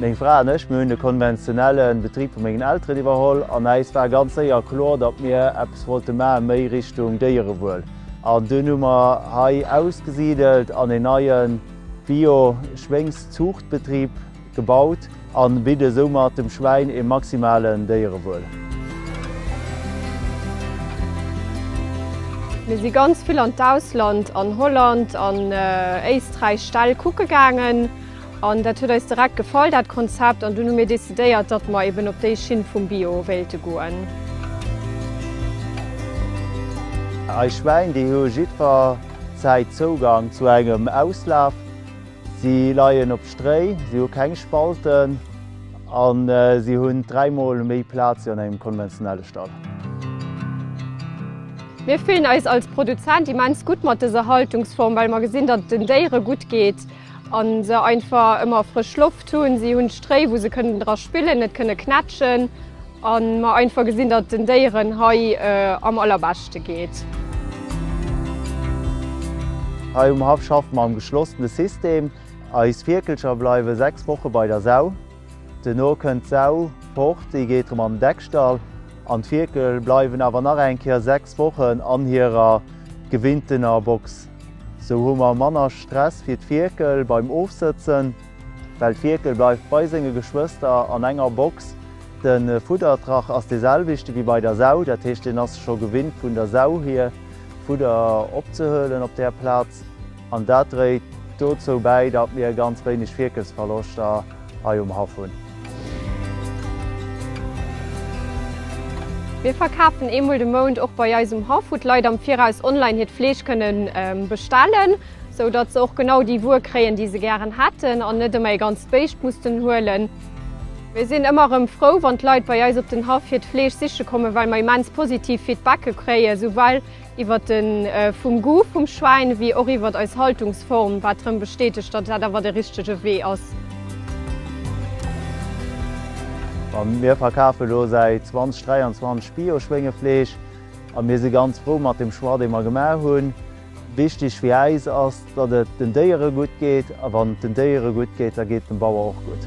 Meng Fra an ech, mir hunn de konventionelle Betrib vu mengen Elteren iwwerholl an äis war ganz séier kloer, datt mir eppes wollte maachen, méi Richtung Déierewuel. An dunn hu mer hei ausgesidelt an een neie Bio-Schwéngszuuchtbetrib gebaut. An bidde soumat dem Schwäin ee maximalen Déierewuel. Mir si ganz vill an d'Ausland, an Holland an Éisträich Ställ kucke gaangen. An dat huet eis direkt gefall, dat Konzept. An dunn hu mir decidéiert, datt mer eben op déi Schinn vum Bio wéilte goen. Eis Schwäin, déi hu jiddwer Zäit Zougang zu engem Auslaf. Si leien op Stréi, si hu keng Spalten a si hunn dräimol méi Plaz wéi an engem konventionelle Stall. Mir fillen eis als Produzent immens gutt mat dëser Haltungsform, well mer gesinn, datt et den Déiere gutt geet a se einfach ëmmer frësch Loft hunn. Si hunn Stréi, wou se kënnen dra spillen, net kënne knätschen. A mer einfach gesinn, datt et den Déieren hei am allerbeschte geet. Hei um Haff schaffe mer am geschlossene System. Eis Fierkelcher bleiwe 6 Woche bei der Sau. Duerno kënnt d'Sau fort, déi geet erëm an den Deckstall. An d'Fierkel bleiwen awer nach eng Kéier 6 Wochen an hirer gewinntener Box. Sou hu mer manner Stress fir d'Fierkel beim Ofsëtzen. Well d'Fierkel bleift bei senge Geschwëster an enger Box. De Fuddertrach ass dee selwechte wéi bei der Sau, dat heescht deen ass scho gewinnt vun der Sau hier Fudder opzehuelen op där Plaz. An dat dréit dozou bäi, datt mir ganz wéineg Fierkelsverloschter hei um Haff hunn. Mir verkafen eemol de Mount och bei eis um Haff, wou d'Leit am Viraus online hiert Fleesch kënnen bestellen. sou datt se och genau déi Wuer kréien, déi se gären hätten an net ëmmer ee ganzt Béischt mussten huelen. Mir sinn ëmmer erëm frou, wann d'Leit bei eis op den Haff hiert Fleesch siche kommen, well mer immens positiv Feedbacke kréien, souwell iwwert de vum Goût vum Schwäin wéi och iwwert eis Haltungsform, wat erëm bestätegt, datt dat awer de richtege Wee ass. Mir verkafen elo säit 2023 Bio-Schwéngefleesch a mir si ganz frou mat dem Choix, dee mer gemaach hunn. Wichteg fir äis ass, datt et den Déiere gutt geet, a wann et den Déiere gutt geet, da geet et dem Bauer och gutt.